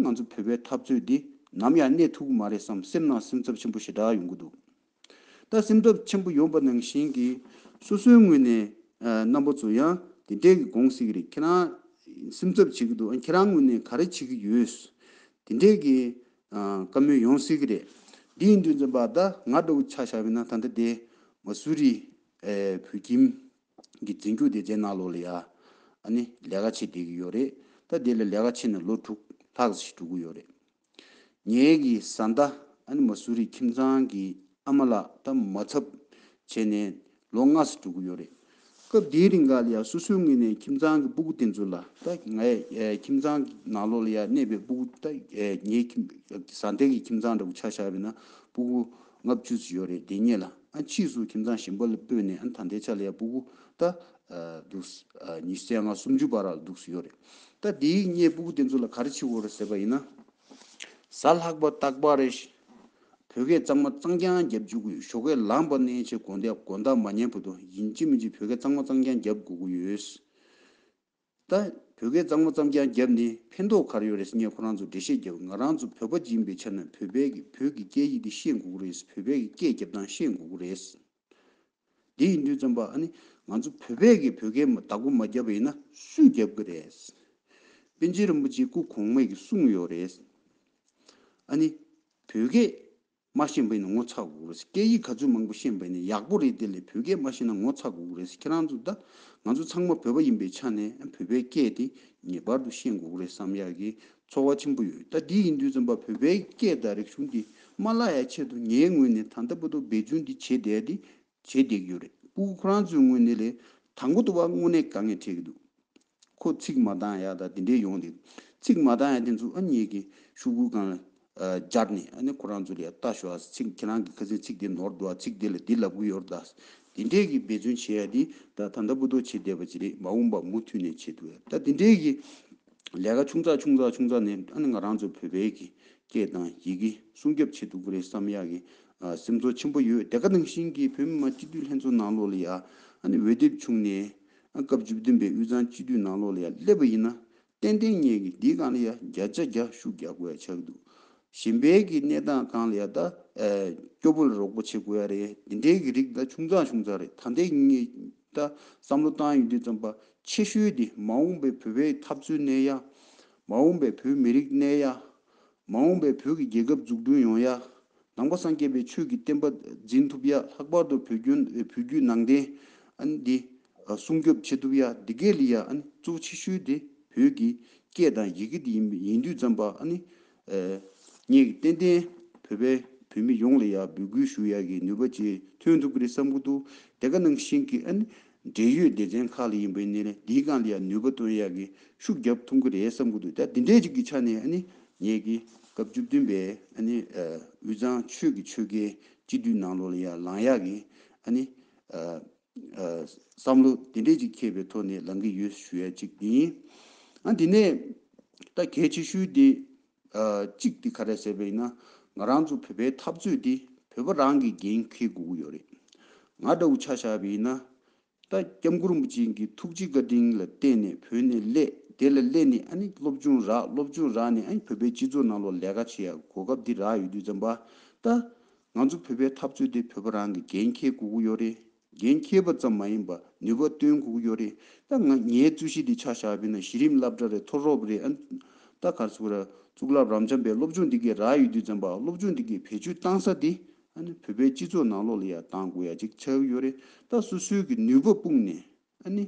ང་ཚོ་བོད་པའི་འཐབ་རྩོད་འདི་ནམ་ཡང་གནས་ཐུག་གི་མ་རེད་བསམ་སེམས་ནང་སེམས་འཚབ་ཆེན་པོ་ཞེ་དྲག་ཡོང་གི་འདུག་ད་སེམས་འཚབ་ཆེན་པོ་ཡོང་པ་ནང་བཞིན་གི་སོ་སོའི་ངོས་ནས་རྣམ་པ་ཚོ་ཡང་དེ་འདྲས་གི་དགོངས་སྲིད་གི་རེད་ཁྱེད་རང་སེམས་འཚབ་བྱེད་གི་འདུག་ཨ་ཁྱེད་རང་ངོས་ནས་ག་རེ་བྱེད་གི་ཡོད་དེ་འདྲས་གི་བཀའ་མོལ་ཡོང་སྲིད་གི་རེད་འདི་ཡིན་དུས་འཛིན་པ་ད་ང་འདྲ་བོ་ཆགས་ཤར་བས་ན་ད་ལྟ་དེ་མ་སུ་རི་ཨེ། བོད་ཁྱིམ། གྱི་འཛིན་སྐྱོང་དེ་རྗེས་གནང་ལོ་ལ་ཡ། ནི། ལས་ཀ་བྱེད་བསྡད་ཀྱི་ཡོད་རེད། ད་དེ་ལ་ལས་ཀ་བྱེད་ནས་ལོ་དྲུག། ལྷག་ཟིག་འགྲོ་གི་ཡོད་རེད། ངེད་ཀྱི་བཟའ་ཟླ། ཨ་ནི་མ་སུ་རི་ཁྱིམ་ཚང་གི་ཨ་མ་ལགས་ད་མ་ཚབ། བྱས་ནས་ལོ་ལྔ་ཟིག་འགྲོ་གི་ཡོད་རེད། སྐབས་དེའི་རིང་འགའ་ལ་ཡ་སོ་སོའི་ངོས་ནས་ཁྱིམ་ཚང་གི་སྤུ་གུ་དེ་ཚོ་ལ་ད་ངའི་ཁྱིམ་ཚང་གི་ནང་ལོ་ལ་ཡ་གནས་པའི་སྤུ་གུ་ད་ངའི་ཁྱིམ་བཟའ་ཟླ་གི་ཁྱིམ་ཚང་འདྲ་གུ་ཆ་བཞག་པའི་ན་སྤུ་གུ་ལྔ་བཅུ་ཙི་ཡོད་རེད་དེ་རྙེད་ལ་ཕྱིས་སུ་ཁྱིམ་ཚང་གཞན་པ་ལ་སྤོས་ནས་ད་ལྟའི་ཆ་ལ་ཡ་པུ་གུ་ད་འདུག་ཉི་ཟེར་ང་སུམ་ཅུ་བར་ལ་འདུག་ཡོད་རེད་ད་དེའི་རྙེད་སྤུ་གུ་དེ་ཚོ་ལ་ག་རེ་བྱེད་དགོས་རེད་ཟེར་བ་ཡིན་ན། གཟའ་ལྷག་པ་སྟག་པག་རེད། བོད་སྐད་གཙང་མ་གཙང་རྐྱང་རྒྱབ་བཅུག་གི་ཡོད་ཞོགས་ཁས་བླངས་པ་གནས་ཆེ་དགོན་སྡེ་དགོན་བདག་མ་ཉན་བུ་དོ་ཡིན་གཅིག་མིན་གཅིག་བོད་སྐད་གཙང་མ་གཙང་རྐྱང་རྒྱབ་དགོས་གི་ཡོད། ད་བོད་སྐད་གཙང་མ་ཙམ་ཀྱང་རྒྱབ་ནས་ཕན་ཐོག་གར་ཡོད་རེད་ངས་ཁོ་རང་ཚོར་འགྲེལ་བཤད་རྒྱབ་ང་རང་ཚོ་བོད་པ་སྦྱིན་པའི་ཆ་ན་བོད་པའི་གི་བོད་ཀྱི་སྐད་ཡིག་དེ་ཤེས་དགོས་ཀྱི་རེད་བོད་པའི་གི་སྐད་རྒྱབ་སྟངས་ཤེས་དགོས་ཀྱི་རེད། དེ་ཡིན་དུས་རྩོམ་པ་ཨ་ནི་ང་ཚོ་བོད་པས་གི་བོད་སྐད་མ་དག་པོ་མ་རྒྱབ་པ་ཡིན་ན་སུས་རྒྱབ་ཀྱི་རེད། པན་ཆེན་རིན་པོ་ཆེའི་སྐུ་གོང་མས་གི་གསུངས་ཡོད་རེད། ཨ་ནི་བོད་སྐད། མ་ཤེས་བས་ནི་ངོ་ཚ་གོ་རེད་སྐད་ཡིག་ག་ཚོད་མང་པོ་ཤེས་བས་ནི་ཡག་པོ་རེད་དེ་ལས་བོད་སྐད་མ་ཤེས་ན་ངོ་ཚ་གོ་རེད་ཁྱེད་རང་ཚོ་ད་ང་ཚོ་ཚང་མ་བོད་པ་ཡིན་པའི་ཆ་ནས་བོད་པའི་སྐད་དེ་ངེས་པར་དུ་ཤེས་གོ་རེད་བསམ་ཡག་གི་ཚོར་བ་ཆེན་པོ་ཡོད་ད་དེ་ཡིན་དུས་རྩོམ་པ་བོད་པའི་སྐད་དང་རིག་གཞུང་དེ་མ་བརླག་ཡ་ཆེད་དུ་ངའི་ངོས་ནས་ད་ལྟ་བོད་དོ་བེད་སྦྱོང་དེ་བྱེད་བསྡད་དེ་བྱས་བསྡད་ཀྱི་ཡོད་རེད་པུའུ་ཁོ་རང་ཚོའི་དངོས་གནས་ལས་དང་པོ་དུ་བ་དངོས་གནས་དཀའ་ངལ་འཕྲད་ཀྱི་འདུག་ཁོ་ཚིག་མ་གདང་ཡ་ད་དེ་འདྲས་ཡོང་འདུག་ཚིག་མ་གདང་ཡ་དེ་ཚོ་ཨ་མྱེས་ཀྱིས་ཤུགས་ཁུར་གང་སྦྱར་ནས་ཨ་ནེ་ཁོ་རང་ཚོ་ལས་ལྟ་ཞོག་ཨ་ཚིག་ཁྱེད་རང་གི་ཁ་ཟས་ཚིག་དེ་ནོར་འདུག་ཨ་ཚིག་དེ་ལ་འདི་ལབ་གི་ཡོད་རེད་ད་དེ་འདྲས་ཀྱི་འབད་བརྩོན་བྱས་ཡ་དེ་ད་ད་ད་སྤུ་ལྡོག་བྱས་བསྡད་པ་ཅི་རེད་མ་འོངས་པ་མུ་མཐུད་ནས་བྱེད་དུ་ཡ་ད་དེ་འདྲས་ཀྱི། ལས་ཀ་ཆུང་ཙག་ཆུང་ཙག་ཆུང་ཙག་ནས་ཨ་ནི་ང་རང་ཚོ་བོད་པའི་གི་སྐད་དང་ཡི་གེ་སྲུང་སྐྱོབ་བྱེད་ཐུབ་ཀི་རེད་བསམ་ཡག་གི་སེམས་ཚོར་ཆེན་པོ་ཡོད་དེ་ཀ་ནང་བཞིན་གི་བོད་མི་མང་སྤྱི་འཐུས་ལྷན་ཚོགས་ནང་ལོགས་ལ་ཡ་ཨ་ནི་འོས་དེབ་བྱུང་ནས་ཨ་སྐབས་བཅུ་བདུན་པའི་དབུས་གཙང་སྤྱི་འཐུས་ནང་ལོགས་ལ་ཡ་སླེབས་པ་ཡིན་ན་ཏན་ཏན་ངེས་གི་འདི་གང་ལ་ཡ་རྒྱ་ཆ་རྒྱ་ཤུག་རྒྱག་དགོས་ཡ་ཆག་འདུག་གཞན་པའི་གི་གནས་སྟངས་གང་ལ་ཡ་ད་སྐྱོ་པོ་ལ་རོགས་པོ་བྱེད་དགོས་ཡ་རེད་འདི་འདྲའི་གི་རིགས་ད་ཆུང་ཙག་ཆུང་ཙག་རེད་ད་འདས་ངེས། ད་བསམ་བློ་བཏང་ཡོད་དུས་རྩོམ་པ་ཆེ་ཤོས་དེ་མ་འོངས་པའི་བོད་པའི་འཐབ་རྩོད་གནས་ཡ། མ་འོངས་པའི་བོད་མི་རིགས་གནས་ཡ། མ་འོངས་པའི་བོད་ཀྱི་རྒྱལ་ཁབ་འཛུགས་སྐྲུན་ཡོང་ཡ། ནང་པ་སངས་རྒྱས་པའི་ཆོས་ཀྱི་བསྟན་པ་འཛིན་ཐུབ་ཡ་ལྷག་པར་དུ་བོད་ཁྱོན་བོད་བརྒྱུད་ནང་བསྟན་འདི་སྲུང་སྐྱོབ་བྱེད་ཐུབ་ཡ་འདི་གའི་ལི་ཡ་གཙོ་བོ་ཆེ་ཤོས་དེ་བོད་ཀྱི་སྐད་དང་ཡི་གེ་དེ་ཡིན་དུས་རྩོམ་པ་ངས་ཏན་ཏན་བོད་པའི་བོད་མི་ཡོངས་ལ་ཡང་འབོད་སྐུལ་ཞུ་ཡ་གི་ནུས་པ་བཅས་ཐོན་ཐུབ་ཀི་རེད་བསམ་གི་འདུག་དེ་ག་ནང་བཞིན་གི་འབྲེལ་ཡོད་སྡེ་ཚན་ཁག་ལ་ཡིན་པའི་ནས་ལས་འདིའི་སྒང་ལ་ཡང་ནུས་པ་བཏོན་ཡ་གི་ཤུགས་རྒྱབ་ཐུབ་གི་རེད་བསམ་གི་འདུག་ད་འདི་འདྲའི་ཅིག་གི་ཆ་ནས་ངས་གི་སྐབས་བཅུ་བདུན་པའི་དབུས་གཙང་ཆོས་ཀི་ཆོལ་ཁའི་སྤྱི་འཐུས་ནང་ལོགས་ལ་ཡང་ལང་ཡ་གི་བསམ་བློ་དེ་འདྲས་ཅིག་འཁྱེར་པའི་ཐོག་ནས་ལངས་ཀྱི་ཡོད་ཞུ་ཡ་གཅིག་ཡིན། ཨ་དེ་ནས་ད་གལ་ཆེ་ཤོས་དེ་གཅིག་དེ་ག་རེད་ཟེར་བ་ཡིན་ན་ང་རང་ཚོ་བོད་པའི་འཐབ་རྩོད་དེ་བོད་པ་རང་གིས་འགན་འཁུར་དགོས་ཀྱི་ཡོད་རེད། ང་འདྲ་བོ་ཆ་བཞག་པ་ཡིན་ན་ད་སྐྱབས་མགོན་རིན་པོ་ཆེ་འགི་ཐུགས་རྗེ་བཀའ་དྲིན་ལ་བརྟེན་ནས་བོད་ནས་སླད་དེ་ལ་སླད་ནས་ཨ་ནི་སློབ་སྦྱོང་རག་སློབ་སྦྱོང་རག་ནས་ཨ་བོད་པའི་སྤྱི་ཚོགས་ནང་ལོག་ལས་ཀ་བྱེད་ཡ་གོ་སྐབས་དེ་རག་ཡོད་དུས་ཙམ་པ་ད་ང་ཚོ་བོད་པའི་འཐབ་རྩོད་དེ་བོད་པ་རང་གི་འགན་འཁྱེར་དགོས་ཀྱི་ཡོད་རེད། འགན་འཁྱེར་པ་ཙམ་མ་ཡིན་པ་ནུས་པ་བཏོན་དགོས་ཀྱི་ཡོད་རེད། ད་ང་ངའི་རྩོད་གཞི་འདི་ཆགས་ཞག་བོད་ནང་གཞི་རིམ་སླབ་གྲ་རེད་མཐོ་རོབ་རེད་ཨན། ད་གར་ཚུགས་ར། གཙུག་ལག་རབ་འབྱམས་པའི་སློབ་སྦྱོང་འདི་གའི་ར་ཡོད་དུས་ཙམ་པ་སློབ་སྦྱོང་འདི་གའི་བེད་སྤྱོད་བཏང་ས་དེ་ཨན་བོད་པའི་སྤྱི་ཚོགས་ནང་ལོག་ལ་ཡང་བཏང་དགོས་ཡ་གཅིག་ཆགས་ཀྱི་ཡོད་རེད་ད་སོ་སོའི་གི་ནུས་པ་སྤུངས་ནས་ཨ་ནི།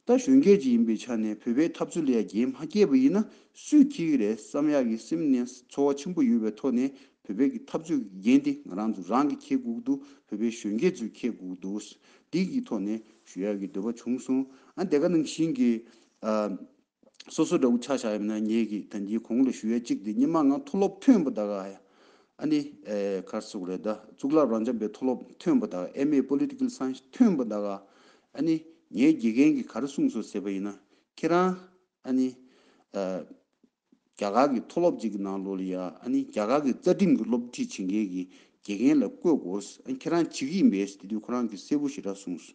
ད་གཞོན་སྐྱེས་ཀྱི་ཡིན་པའི་ཆ་ནས་བོད་པའི་ཐབས་ཚུལ་ལས་རྒྱལ་མ་སྐྱེས་པ་ཡིན་ན་སུས་ཁྱི་གི་རེད་བསམ་ཡག་གི་སེམས་ནས་ཚོར་བ་ཆེན་པོ་ཡོད་པའི་ཐོག་ནས་བོད་པའི་གི་ཐབས་ཚུལ་གི་འགན་དེ་ང་རང་ཚོ་རང་གི་ཁྱེད་གུག་འདུག་བོད་པའི་གཞོན་སྐྱེས་ཚོས་ཁྱེད་གུག་འདུག་སྡིག་གི་ཐོག་ནས་ཞུ་ཡག་གི་འདོད་པ་བྱུང་སོང་ཨ་དེ་ག་ནང་བཞིན་གི། སོ་སོ་འདྲ་བོ་ཆགས་བཞག་ཡོད་ན་ངེད་ཀྱིས་དོན་གྱིས་གོང་ལ་ཞུ་ཡས་གཅིག་དེ་ཉི་མ་ང་མཐོ་སློབ་ཐོན་པོ་ད་ག་ཡ། ཨ་ནི་གར་སོགས་རེད་ད་གཙུག་ལག་རང་འཇམ་པའི་མཐོ་སློབ་ཐོན་པོ་ད་ག་ཨེ་མེ Political Science ཐོན་པོ་ད་ག་ཡ། ཨ་ནི་ངའི་དགེ་རྒན་གྱིས་ག་རེ་གསུངས་སོ་ཟེར་བ་ཡིན་ན་ཁྱེད་རང་ཨ་ནི། རྒྱ་གར་གྱི་མཐོ་སློབ་ཅིག་གི་ནང་ལོ་ལི་ཡ་ཨ་ནི་རྒྱ་གར་གྱི་རྩ་ཁྲིམས་ཀྱི་སློབ་ཁྲིད་བྱེད་མཁན་གྱི་དགེ་རྒན་ལ་བསྐོས་དགོས་ཨ་ཁྱེད་རང་བྱེད་ཀྱི་ཡིན་པས་དེ་དུས་ཁོ་རང་གི་སྲས་པོ་ཞེ་དྲག་གསུངས་སོ།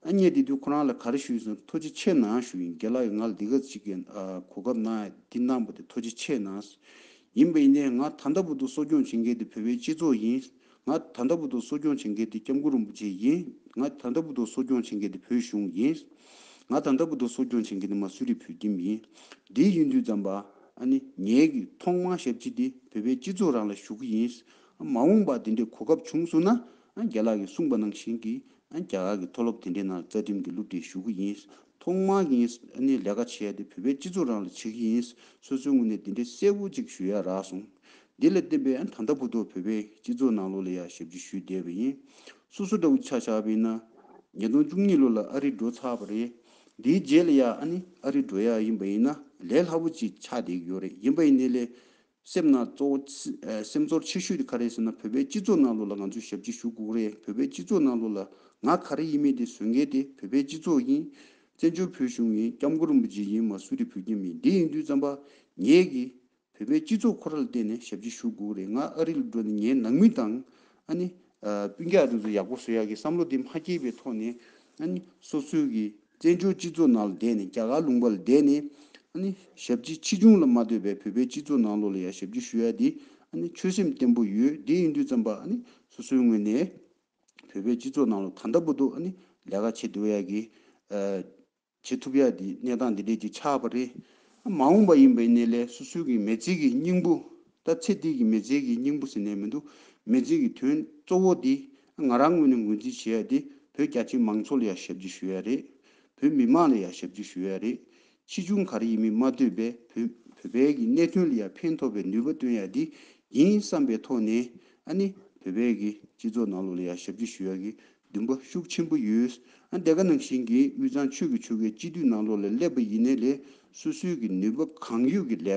ཨ་མྱེས་དེ་དུས་ཁོ་རང་ལ་ག་རེ་ཞུ་ཡིན་ཟེར་ན་མཐོ་ཆེ་ཆེ་ན་ཞུ་ཡིན་རྒྱ་ལགས་ཡིན་ང་ལ་འདི་ག་ཅིག་གི་གོ་སྐབས་ན་འདི་གནང་པ་དེ་མཐོ་ཆེ་ཆེ་ན་ཡིན་པ་ཡིན་ནས་ང་ད་ལྟ་བུ་དུ་གསོ་སྐྱོང་བྱེད་མཁན་དེ་བོད་པའི་སྤྱི་ཚོགས་ཡིན། ང་ད་ལྟ་བུ་དང་གསོ་སྐྱོང་བྱེད་མཁན་དེ་སྐྱབས་མགོན་རིན་པོ་ཆེ་ཡིན། ང་ད་ལྟ་བུ་དང་གསོ་སྐྱོང་བྱེད་མཁན་དེ་བོད་གཞུང་ཡིན། ང་ད་ལྟ་བུ་དང་གསོ་སྐྱོང་བྱེད་མཁན་དེ་མ་སུ་རི་བོད་ཁྱིམ་ཡིན། འདི་ཡིན་དུས་ཙམ་པ། ཨ་ནི། ངེད་ཀྱི་ཐོག་མར་ཞབས་ཕྱི་དེ་བོད་པའི་སྤྱི་ཚོགས་རང་ལ་ཞུ་གི་ཡིན། མ་འོངས་པར་དེ་འདྲའི་གོ་སྐབས་བྱུང་སོང་ན། རྒྱ་ལག་གིས་གསུངས་པ་ནང་བཞིན་གྱི། རྒྱ་གར་གྱི་མཐོ་སློབ་དེ་འདྲའི་ནང་རྩ་ཁྲིམས་ཀྱི་སློབ་ཁྲིད་ཞུ་གི་ཡིན། ཐོག་མར་ངས་ཨ་ནི་ལས་ཀ་བྱེད་ཡ་དེ་བོད་པའི་སྤྱི་ཚོགས་རང་ལ་བྱེད་ཀྱི་ཡིན། སོ་སོའི་ངོས་ནས་དེ་འདྲའི་གསལ་བོ་གཅིག་ཞུ་ཡ་རག་སོང། དེ་ལས་བརྟེན་པའི་ད་ལྟ་གུ་དོག་བོད་པའི་སྤྱི་ཚོགས་ནང་ལོ་ལེགས་ཡར་ཞབས་ཕྱི་ཞུས་བསྡད་པ་ཡིན། སོ་སོ་འདྲ་བོ་ཆགས་ཆགས་པས་ན། ཉིས་སྟོང་བཅུ་གཉིས་ལོ་ལ་ཨ་རི་འགྲོ་ཚར་བ་རེད། དེའི་རྗེས་ལ་ཡང་ཨ་ནི་ཨ་རི་འགྲོ་ཡ་ཡིན་པ་ཡིན་ན་ལས་སླ་པོ་ཅིག་ཆགས་བསྡད་ཀྱི་ཡོད་རེད་ཡིན་པ་ཡིན་དེ་ལས། སེམས་ནང་གཙོ་བོ་སེམས་ཚོར་ཆེ་ཤོས་དེ་ག་རེད་ཟེར་ན་བོད་པའི་སྤྱི་ཚོགས་ནང་ལོ་ལ་ང་ཚོས་ཞབས་ཕྱི་ཞུ་དགོས་རེད་བོད་པའི་སྤྱི་ཚོགས་ནང་ལོ་ལ་ང་ག་རེ་ཡིན་མིན་དེ་བཟོད་མཁན་དེ་བོད་པའི་སྤྱི་ཚོགས་ཡིན། བཙན་བྱོལ་བོད་གཞུང་ཡིན་སྐྱབས་མགོན་རིན་པོ་ཆེ་ཡིན་མ་སུ་རེད་བོད་ཀྱི་མི་འདི་ཡིན་དུས་བརྩམས་པ་ངེད་ཀྱིས་བོད་པའི་སྤྱི་ཚོགས་ཁོ་ར་ལ་བལྟས་ནས་ཞབས་ཕྱི་ཞུ་དགོས་རེད་ང་ཨ་རི་ལ་འགྲོ་ནས་ངའི་ནང་མི་དང་ཨ་ནི། སྤུན་རྒྱག་རིང་དུ་ཡག་པོ་བཟོ་ཡག་གི་བསམ་བློ་དེ་མ་སྐྱེས་པའི་ཐོག་ནས་ཨ་ནི། སོ་སོའི་གི་བཙན་བྱོལ་སྤྱི་ཚོགས་ནང་ལ་བསྡད་ནས་རྒྱ་གར་ལུང་པ་ལ་བསྡད་ནས་ཨ་ནི། ཞབས་ཕྱི་ཕྱི་བྱུང་ལ་མ་ལྟོས་པའི་བོད་པའི་སྤྱི་ཚོགས་ནང་ལོག་ལ་ཡང་ཞབས་ཕྱི་ཞུ་ཡག་དེ་ཨ་ནི། ཆོད་སེམས་བརྟན་པོ་ཡོད་དེ་ཡིན་དུས་ཙམ་པ་ཨ་ནི། སོ་སོའི་ངོས་ནས་བོད་པའི་སྤྱི་ཚོགས་ནང་ལ་ད་ལྟ་བུ་དུ་ཨ་ནི། ལས་ཀ་བྱེད་སྡོད་ཡག་གི། བྱེད་ཐུབ་ཡ་དེ་གནས་སྟངས་འདི་འདྲས་ཀྱི་ཆགས་པ་རེད། མ་འོངས་པ་ཡིན་པའི་གནས་ལས་སོ་སོའི་གི་མེས་ཚིག་གི་སྙིང་པོ། ད་ཚེ་འདིའི་གི་མེས་ཚིག་གི་སྙིང་པོ་ཟེར་ནས་མི་འདུག་མེས་ཚིག་གི་དོན་གཙོ་བོ་དེ་ང་རང་ངོས་ནས་འགོ་འཛིན་བྱེད་ཡ་དེ་བོད་རྒྱ་ཆེ་མང་ཚོགས་ལ་ཡ་ཞབས་ཀྱི་ཞུ་ཡ་རེད། བོད་མི་དམངས་ལ་ཡ་ཞབས་ཀྱི་ཞུ་ཡ་རེད། ཕྱིས་འབྱུང་ག་རེ་ཡིན་མིན་མ་ལྟོས་པས་བོད་བོད་པའི་གི་གནད་དོན་ལ་ཡ་ཕན་ཐོགས་པའི་ནུས་པ་བཏོན་ཡ་དེ་ཡིན་བསམ་པའི་ཐོག་ནས་ཨ་ནི་བོད་པའི་གི་སྤྱི་ཚོགས་ནང་ལོགས་ལ་ཡ་ཞབས་ཀྱི་ཞུ་ཡ་གི་བདུན་པ་ཤུགས་ཆེན་པོ་ཡོད། འདས་ཀ་ནང་བཞིན་གྱི་དབུས་གཙང་ཆོས་ཀྱི་ཆོལ་ཁའི་སྤྱི་འཐུས་ནང་ལོགས་ལས་སླེབས་པ་ཡིན་ནའི་ལས་སོ་སོའི་གི་ནུས་པ་གང་ཡོད་ཀྱི་ལས་ཀ